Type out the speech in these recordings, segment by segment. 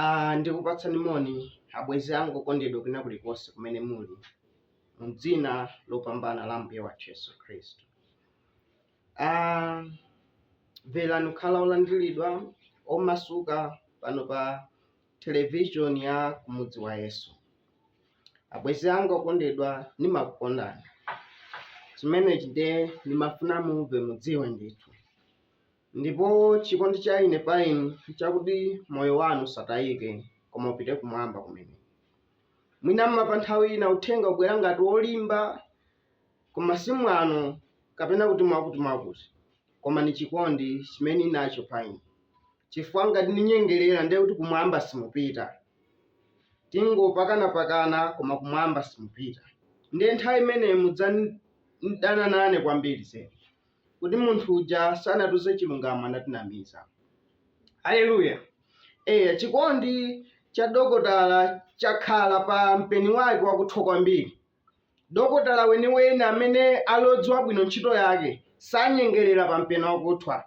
Ah, ndikupatsani moni abwenzi anga okondedwa kwina kulikonse kumene muli mu dzina lopambana la Ambuye wathu Yesu Khristu. Ah, imvani kukhala olandiridwa omasuka pano pa Television ya Kumudzi wa Yesu. Abwenzi anga okondedwa, ndimakukondani. Chimenechi ndiye ndimafuna mumve mudziwe ndithu. Ndipo chikondi cha ine pa inu chakuti moyo wanu usatayike koma upite kumwamba kumene. Mwina ma pa nthawi ina uthenga ubwera ngati wolimba koma si mwano kapena kuti mwakuti mwakuti koma ni chikondi chimene ninacho pa inu. chifukwa ngati ndinyengerera ndiye kuti kumwamba simupita. Tingopakanapakana koma kumwamba simupita. Ndiye nthawi imeneyo mudzadana nane kwambiri zedi kuti munthu uja sanatiuze chilungamo anatinamiza. Haleluya! Eya, chikondi cha dokotala chakhala pa mpeni wake wakuthwa kwambiri Dokotala weniweni amene ali odziwa bwino ntchito yake sanyengerera pa mpeni wakuthwa.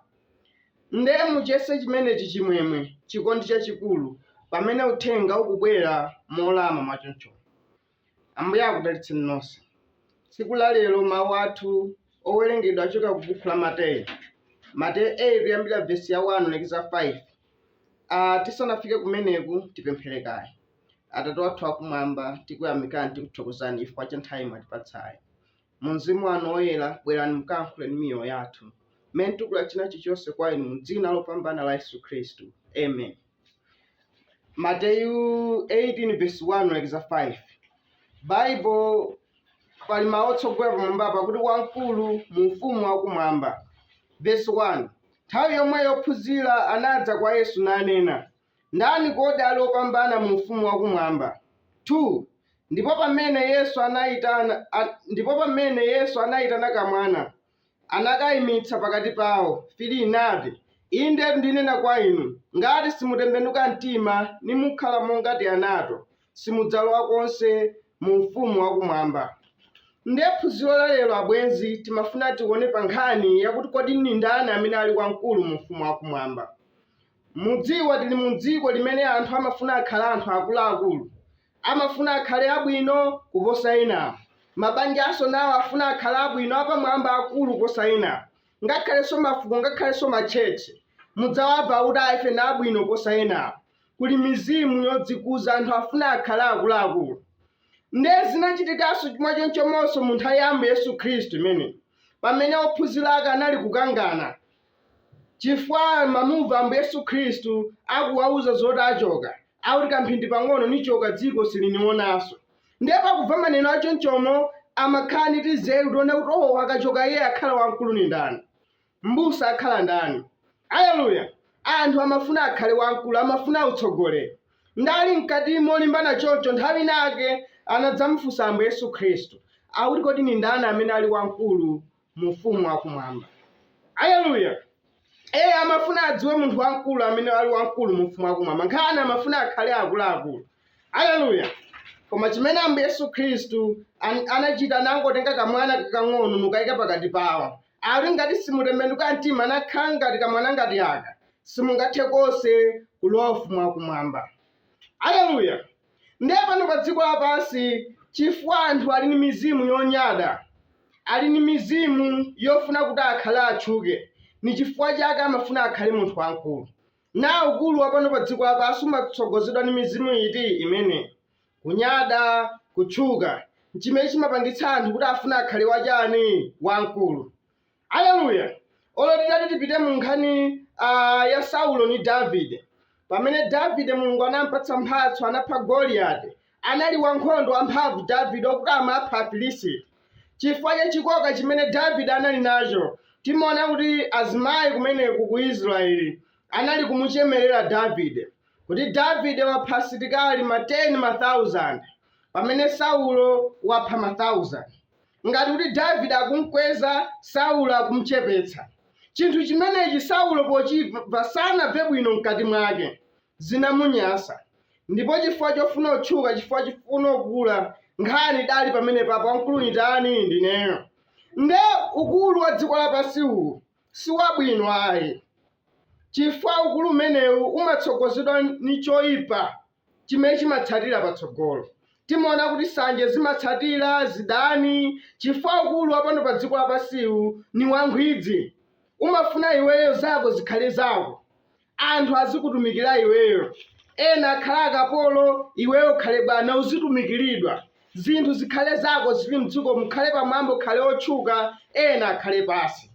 Nde muchiyese chimenechi chimwemwe, chikondi chachikulu pamene uthenga ukubwera molama mwachonchomu. Ambuye akudalitseni nonse. Tsiku la lero mawu athu owerengedwa achoka ku bukhu la Mateyu. Mateyu 8 kuyambira vesi ya 1 kulekeza 5. Ah, tisanafike kumeneku tipemphere kaye. Atate wathu wakumwamba, tikuyamikani tikuthokozani chifukwa cha nthawi mwatipatsayi. Mwa mzimu wanu woyera, bwerani mukayankhule ndi miyoyo yathu mmene tikutula china chilichonse kwa inu mu dzina lopambana la Yesu Khristu. Amen. Mateyu 18 verse 1 lekeza 5 Baibulo pali mawu otsogolera pamwamba pakuti wamkulu mu ufumu wakumwamba. Verse 1 nthawi yomweyo ophunzira anadza kwa Yesu nanena, Ndani kodi ali opambana mu Ufumu wa Kumwamba? 2 ndipo pamene Yesu anaitana, a, ndipo pamene Yesu anaitana kamwana, anakaimitsa pakati pawo, 3 nati, Indetu ndinena kwa inu, ngati simutembenuka mtima nimukhala monga tianato, simudzalowa konse mu Ufumu wa Kumwamba. Nde phunziro la lero abwenzi timafuna tione pa nkhani yakuti kodi ndi ndani amene ali wamkulu mu Ufumu wa Kumwamba. Mudziwa tili mu dziko limene anthu amafuna akhale anthu akuluakulu, amafuna akhale abwino kuposa enawo, mabanjanso nawo afuna akhale abwino apamwamba akulu kuposa enawo, ngakhalenso mafuko ngakhalenso ma church mudzawava akuti ayi ife ndi abwino kuposa enawo, kuli mizimu yodzikuza anthu afuna akhale akuluakulu nde zinachitikanso chimwachonchomonso mu nthawi ya Ambuye Yesu Khristu imeneyi pamene ophunzira ake anali kukangana. Chifukwa mamumva Ambuye Yesu Khristu akuwauza zoti achoka, akuti kamphindi pang'ono nichoka dziko silinionanso. Ndiye pakumva maneno achonchomo amakhala ndi tinzeru toona kuti o akachoka iye akhala wamkulu ni ndani? Mbusa akhala ndani? Aleluya! Anthu amafuna akhale wamkulu, amafuna utsogoleri. Nde ali mkati molimbana choncho, nthawi ina ake anadzamufunsa Ambuye Yesu Khristu, akuti kodi ni ndani amene ali wamkulu mu ufumu wa kumwamba. Aleluya! Ee, amafuna adziwe munthu wamkulu amene ali wamkulu mu ufumu wa kumwamba. Nkhani amafuna akhale akuluakulu. Aleluya! Koma chimene Ambuye Yesu Khristu an- anachita anangotenga kamwana kakang'ono n'kukayika pakati pawo. Ati ngati simutembenuka mtima nakhala ngati kamwana ngati aka. Simungathe konse kulowa ufumu wa kumwamba. Aleluya! Ndiye pano pa dziko lapansi, chifukwa anthu ali ni mizimu yonyada, ali ni mizimu yofuna kuti akhale atchuke, ni chifukwa chake amafuna akhale munthu wamkulu. Na ukulu wa pano pa dziko lapansi umatsogozedwa ni mizimu iti imeneyi? Kunyada, kutchuka, n'chimene chimapangitsa anthu kuti afune akhale wachani? Wamkulu. Aleluya! Olo titati tipite mu nkhani ah, ya Saulo ni Davide. Pamene Davide Mulungu anampatsa mphatso, anapha Goliati. Anali wankhondo wamphamvu Davide okuti amapha Afilisiti. Chifukwa cha chikoka chimene Davide anali nacho, timaona kuti azimayi kumeneku ku Israeli anali kumuchemerera Davide kuti Davide wapha asilikali ma 10 1000 pamene Saulo wapha ma 1000. ngati kuti Davide akumkweza, Saulo akumchepetsa. Chinthu chimenechi Saulo pochimva sanamve bwino mkati mwake. Zinamunyasa. Ndipo chifukwa chofuna kutchuka, chifukwa chofuna kukula, nkhani idali pamenepapo wamkulu ni ndani? Ndineyo. Nde ukulu wa dziko lapansi uwu si wabwino ayi. Chifukwa ukulu umenewu umatsogozedwa ni choipa. chimene chimatsatira patsogolo. Timaona kuti sanje zimatsatira, zidani, chifukwa ukulu wa pano padziko lapansiwu ni wankhwidzi. Umafuna iweyo zako zikhale zako, anthu azikutumikira iweyo, ena akhale akapolo iweyo ukhale bwana uzitumikiridwa, zinthu zikhale zako zili mdzikomu, ukhale pamwamba ukhale otchuka ena akhale pansi.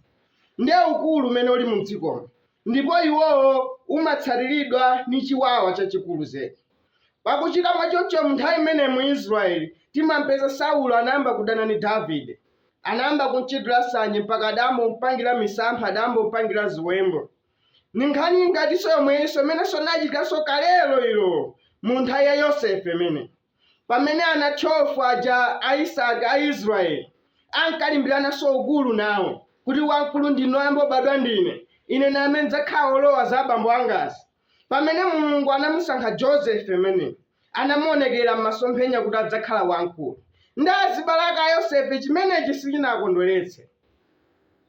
Nde ukulu umene uli mdzikomu Ndipo uwowo umatsatiridwa ni chiwawa chachikulu zedi. Pakuchita mwachoncho m'nthawi imeneyi mu Israyeli timam'peza Saulo anayamba kudana ni Davide. Anayamba kum'chitira sanje mpaka adayamba kum'pangila misampha, adayamba kum'pangila ziwembu. Ni nkhani ingatinso yomweyinso imenenso inachitikanso kalelo ilo mu nthawi ya Yosefe imeneyi. Pamene ana 12 aja a Isaki a Israele ankalimbirananso ukulu nawo, kuti wamkulu ndi noyamba obadwa ndine, ine ndi amene ndidzakhala olowa za abambo angazi. Pamene Mulungu anamusankha Joseph ameneyu, anamuonekera m'masomphenya kuti adzakhala wamkulu. Ndi azibale ake a Yosefe chimenechi sichinawakondweretse.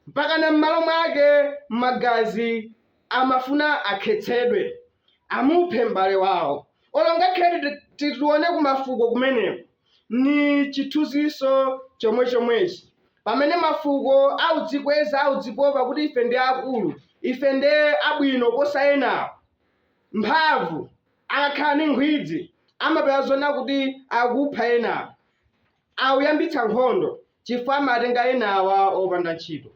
Mpakana m'malo mwake magazi amafuna akhetsedwe, amuphe m'bale wao. Olo ngakhale titi, titi tione ku mafuko kumeneko, ni cithunziso comwe-comweci. Pamene mafuko audzikweza, audzipopa kuti ife ndi akulu, ife ndi abwino kuposa enawo, amphamvu, akakhala ni nkhwidzi, mapeto ake timaona kuti akupha enawo. Akuyambitsa nkhondo chifukwa amatenga enawa opanda ntchito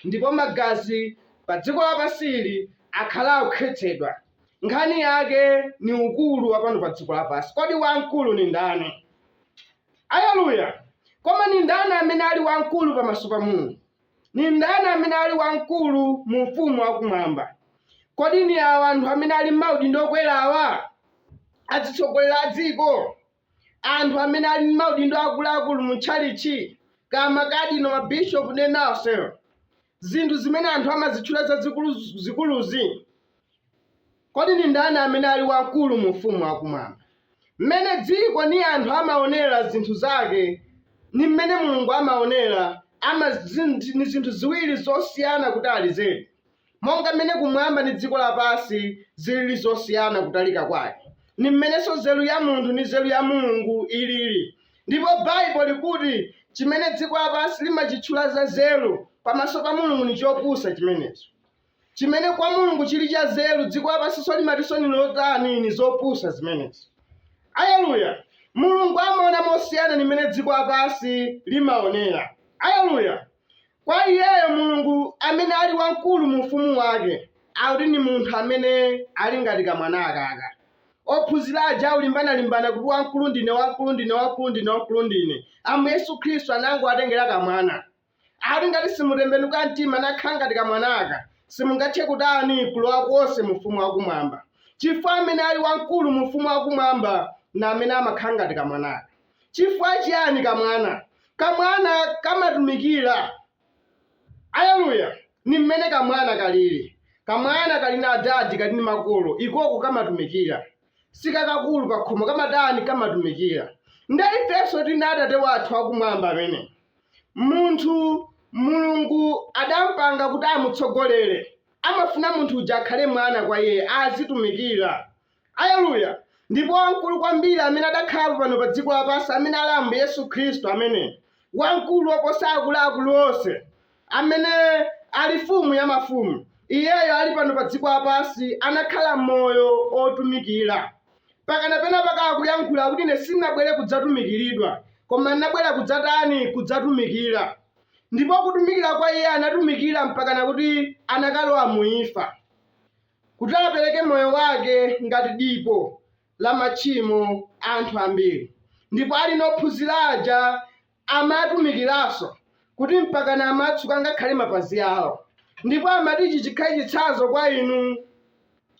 ndipo magazi padziko lapansi akhala akukhetsedwa nkhani yake ni ukulu wapano padziko lapansi kodi wamkulu nindani Aleluya koma nindani amene ali wamkulu pamaso pa Mulungu nindani amene ali wamkulu mu ufumu wakumwamba kodi ni awa anthu amene ali mmaudindo okwerawa atsogoleri a dziko anthu amene ali ndi maudindo akuluakulu mu tchalitchi, kaya makadino, mabishopu ndi ena onsewo, zinthu zimene anthu amazitchula zazikuluzikuluzi, kodi ndi ndani amene ali wamkulu mu Ufumu wakumwamba? Mmene dziko ndi anthu amaonera zinthu zake ndi mmene Mulungu amaonera, ndi zinthu ziwiri zosiyana kutali zedi. Monga mmene kumwamba ndi dziko lapansi zilili zosiyana kutalika kwake, ni mmenenso nzelu ya munthu ndi nzelu ya Mulungu ilili. Ndipo Baibulo likuti cimene dziko lapansi limacichula zanzelu, pamaso pa Mulungu ni copusa cimeneco. Cimene kwa Mulungu cili canzelu, dziko lapansinso limatinso ni lotani? Ni zopusa zimenezo. Aleluya! Mulungu amaona mosiyana ni mmene dziko lapansi limaonela. Aleluya! Kwa iyeyo Mulungu amene ali wamkulu mu ufumu wake akuti ndi munthu amene ali ngati kamwana akaka. Ophunzira aja akulimbana-limbana kuti wamkulu ndine, wamkulu ndine, wamkulu ndine, wamkulu ndine. Ambuye Yesu Khristu anangowatengera kamwana. Akuti ngati simutembenuka mtima nakhala ngati kamwana aka, simungathe kutani kulowa konse mu ufumu wa kumwamba. Chifukwa amene ali wamkulu mu ufumu wa kumwamba ni amene amakhala ngati kamwana aka. Chifukwa chiyani kamwana? Kamwana kamatumikira. Aleluya! Ndi mmene kamwana kaliri. Kamwana kali ndi adadi, kali ndi makolo, ikoko kamatumikira. Si kakakulu pakhomo, kamatani? Kamatumikira. Nde ifenso tili ndi Atate wathu wakumwamba amene munthu Mulungu adampanga kuti amutsogolere. Amafuna munthu uja akhale mwana kwa iye, azitumikira. Aleluya! Ndipo wamkulu kwambiri amene adakhalapo pano pa dziko lapansi, amene ali Ambuye Yesu Khristu, amene wamkulu woposa akuluakulu onse, amene ali Mfumu ya mafumu, Iyeyo ali pano pa dziko lapansi, anakhala moyo otumikira. Mpakana pena pake akuyankhula kuti ine sindinabwere kudzatumikiridwa, koma ndinabwera kudzatani? Kudzatumikira. Ndipo kutumikira kwa Iye anatumikira mpakana kuti anakalowa mu imfa. kuti apereke moyo wake ngati dipo la machimo a anthu ambiri ndipo ali nophunzira aja amatumikiranso kuti mpakana amatsuka ngakhale mapazi awo ndipo amati ichi chikhale chitsanzo kwa inu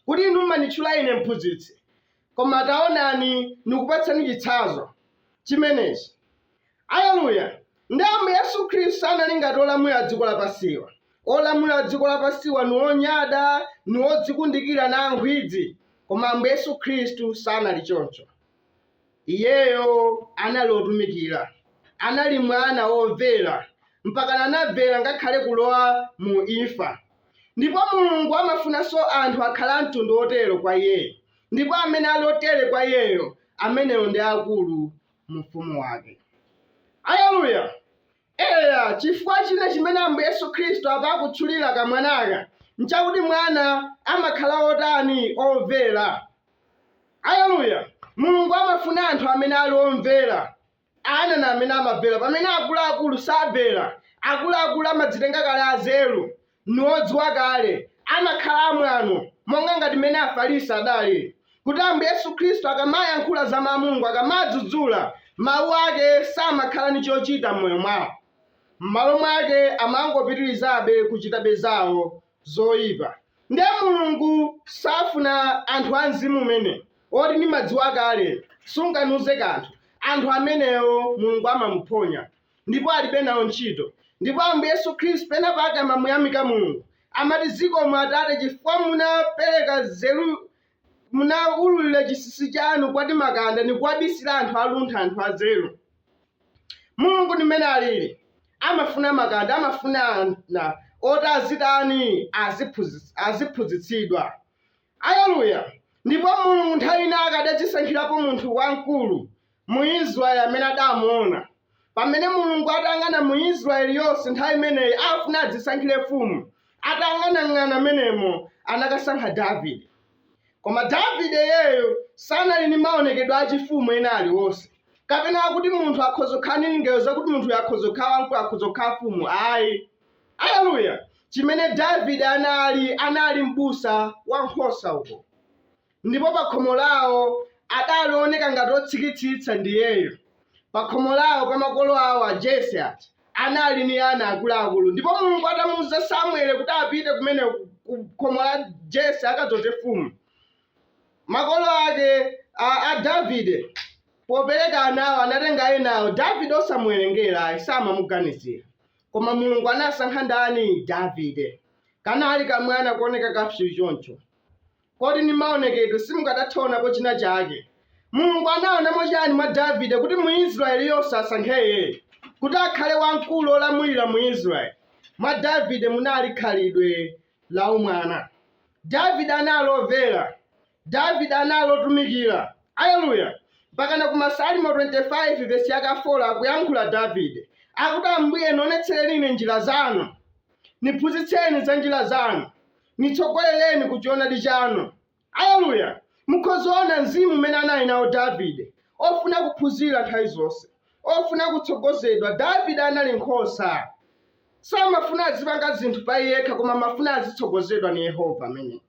kuti inu mumanitchula ine mphunzitsi koma taonani ndikupatsani chitsanzo chimenechi Aleluya! Ndiye Ambuye Yesu Khristu sanali ngati olamulira a dziko lapansiwa. Olamulira a dziko lapansiwa ni onyada, ni odzikundikira, ni ankhwidzi. Koma Ambuye Yesu Khristu sanali choncho. Iyeyo anali wotumikira. Anali Mwana womvera, mpakana anamvera ngakhale kulowa mu imfa. Ndipo Mulungu amafunanso anthu akhale a mtundu wotero kwa iyeyo. Ndipo amene ali otere kwa iyeyo, amenewo ndi aakulu mu ufumu wake. Aleluya! Eya, chifukwa china chimene Ambuye Yesu Khristu apa akutchulira kamwanaka nchakuti mwana amakhala otani omvera. Aleluya! Mulungu amafuna anthu amene ali omvera. Ana ni amene amamvera pamene akuluakulu samvera. Akuluakulu amadzitenga kale azeru ni odziwa kale, amakhala amwano, monga ngati mmene Afarisi adali, kuti Ambuye Yesu Khristu akamayankhula za Mawu a Mulungu, akamadzudzula, Mawu Ake samakhala ni chochita m'moyo mwawo. M'malo mwake, amangopitirizabe kuchitabe zawo zoipa. Ndiye Mulungu safuna anthu a mzimu umenewu, oti nimadziwa kale, sunganiuze kanthu. Anthu amenewo Mulungu amamuphonya. ndipo alibe nawo ntchito. Ndipo Ambuye Yesu Khristu pena pake amamuyamika Mulungu, amati, Zikomo Atate, chifukwa munapereka nzeru, munaululira chinsinsi chanu kwa timakanda ndi kuwabisira anthu aluntha, anthu anzeru. Mulungu ndi mmene alili, amafuna makanda, amafuna ana oti azitani, aziphunzitsidwa. Aleluya! Ndipo Mulungu nthawi ina adadzisankhirapo munthu wamkulu, mu Israeli amene adamuona. Pamene Mulungu atayang'ana mu Israeli yonse nthawi imeneyi afuna adzisankhire mfumu, atayang'anayang'ana mmenemo anakasankha Davide. Koma Davide iyeyo sanali ndi maonekedwe achifumu ena aliwonse, kapena akuti munthu akhoza kukhala ndi lingaliro lakuti munthuyo akhoza kukhala wamkulu, akhoza kukhala mfumu. Ayi, aleluya! Chimene Davide anali, anali m'busa wa nkhosa uko. Ndipo pakhomo lawo adali ooneka ngati otsikitsitsa ndiyeyo pakhomo lawo kwa makolo awo a Jesse aja anali ndi ana akuluakulu ndipo Mulungu atamuuza Samuele kuti apite kumene ku khomo la Jesse akadzoze fumu makolo ake a, a Davide popereka anawo anatenga enawo Davide osamuwerengera ayi samamuganizira koma Mulungu anasankha ndani Davide kanali kamwana kuoneka kapsyu choncho Kodi ndi maonekedwe simukadatha onapo china chake? Mulungu anaonamo chani mwa Davide kuti mu Israel yonse asankhe iyeyo kuti akhale wamkulu olamulira mu Israel? Mwa Davide munali khalidwe la umwana. Davide anali overa. Davide anali otumikira. Aleluya! Mpakana ku Masalimo 25 vesi yake 4 akuyankhula Davide. Akuti Ambuye nionetsereni ine njira zanu. Niphunzitseni za njira zanu. nitsogolereni ku choonadi chanu. Aleluya! Mukhozoona mzimu umene anali nawo Davide, ofuna kuphunzira nthawi zonse, ofuna kutsogozedwa. Davide anali nkhosa, samafuna azipanga zinthu pa iyekha, koma amafuna azitsogozedwa ni Yehova amene.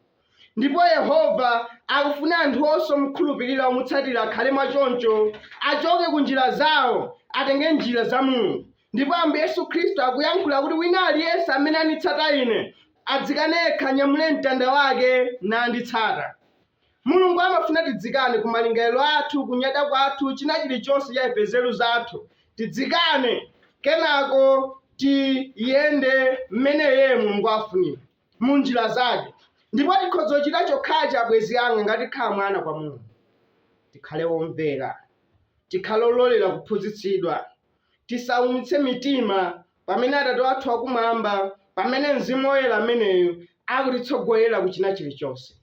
Ndipo Yehova akufuna anthu onse omukhulupirira, omutsatira akhale mwa choncho, achoke ku njira zawo, atenge njira za Mulungu. Ndipo Ambuye Yesu Khristu akuyankhula kuti, Wina aliyense amene anditsata Ine, adzikane yekha, anyamule mtanda wake, nanditsata. Mulungu amafuna tidzikane ku malingaliro athu, kunyada kwathu, china chirichonse cha ife, nzeru zathu. Tidzikane, kenako tiyende mmene Iye Mulungu afunira, mu njira zake. Ndipo tikhoza kuchita chokhachi, abwenzi anga, ngati tikhala mwana kwa Mulungu. Tikhale omvera, tikhale ololera kuphunzitsidwa, tisaumitse mitima pamene Atate wathu wakumwamba, pamene Mzimu Woyela ameneyu akutitsogolera ku china chilichonse.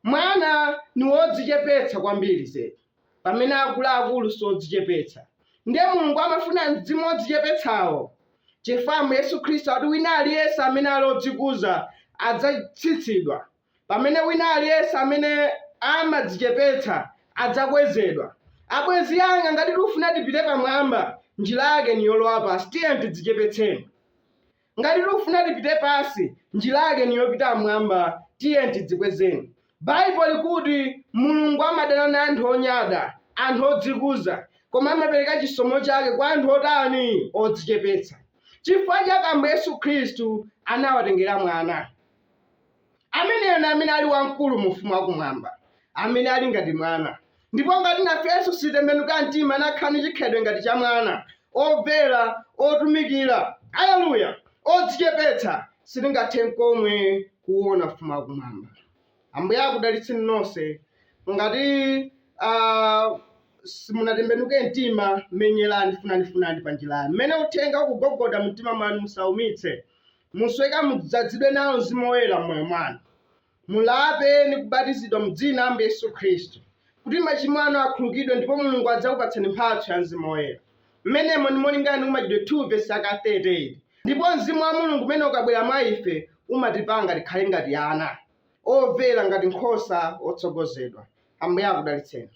Mwana ni wodzichepetsa kwambiri zedi, pamene akulu-akulu si odzichepetsa. Ndiye Mulungu amafuna mzimu wodzichepetsawo, chifukwa Ambuye Yesu Khristu akuti wina aliyense amene ali odzikuza adzatsitsidwa. Pamene wina aliyense amene amadzichepetsa adzakwezedwa. Abwenzi anga, ngati tikufuna tipite pamwamba, njira yake ni yolowa pansi. Tiyeni tidzichepetseni. Ngati tikufuna tipite pansi, njira yake ni yopita m'mwamba. Tiyeni tidzikwezeni. Baibulo likuti Mulungu amadana na anthu onyada, anthu odzikuza, koma amapereka chisomo chake kwa anthu otani? Odzichepetsa. Chifukwa chake Ambuye Yesu Khristu anawatengera mwana. Ameneyo ndi amene ali wamkulu mu Ufumu wa Kumwamba, amene ali ngati mwana. Ndipo ngati nafenso sititembenuke mtima n'kukhala ndi chikhalidwe ngati cha mwana, omvera, otumikira, aleluya, odzichepetsa, sitingathe nkomwe kuwuona Ufumu wa Kumwamba. Ambuye akudalitseni nonse. Ngati ah, simunatembenuke mtima, menyerani, funani, funani pa njirayo. Mmene uthenga ukugogoda mu mtima mwanu, musaumitse. Musweke mudzadzidwe nawo Mzimu Woyera m'moyo mwanu. Mulape ndi kubatizidwa mu dzina la Ambuye Yesu Khristu kuti machimo anu akhululukidwe ndipo Mulungu adzakupatsani mphatso ya Mzimu Woyera. M'menemo ndi molingana ndi ku Machitidwe 2 vesi yaka 38. Ndipo Mzimu wa Mulungu umene ukabwera mwa ife umatipanga tikhale ngati ana, overa ngati nkhosa otsogozedwa. Ambuye akudalitseni.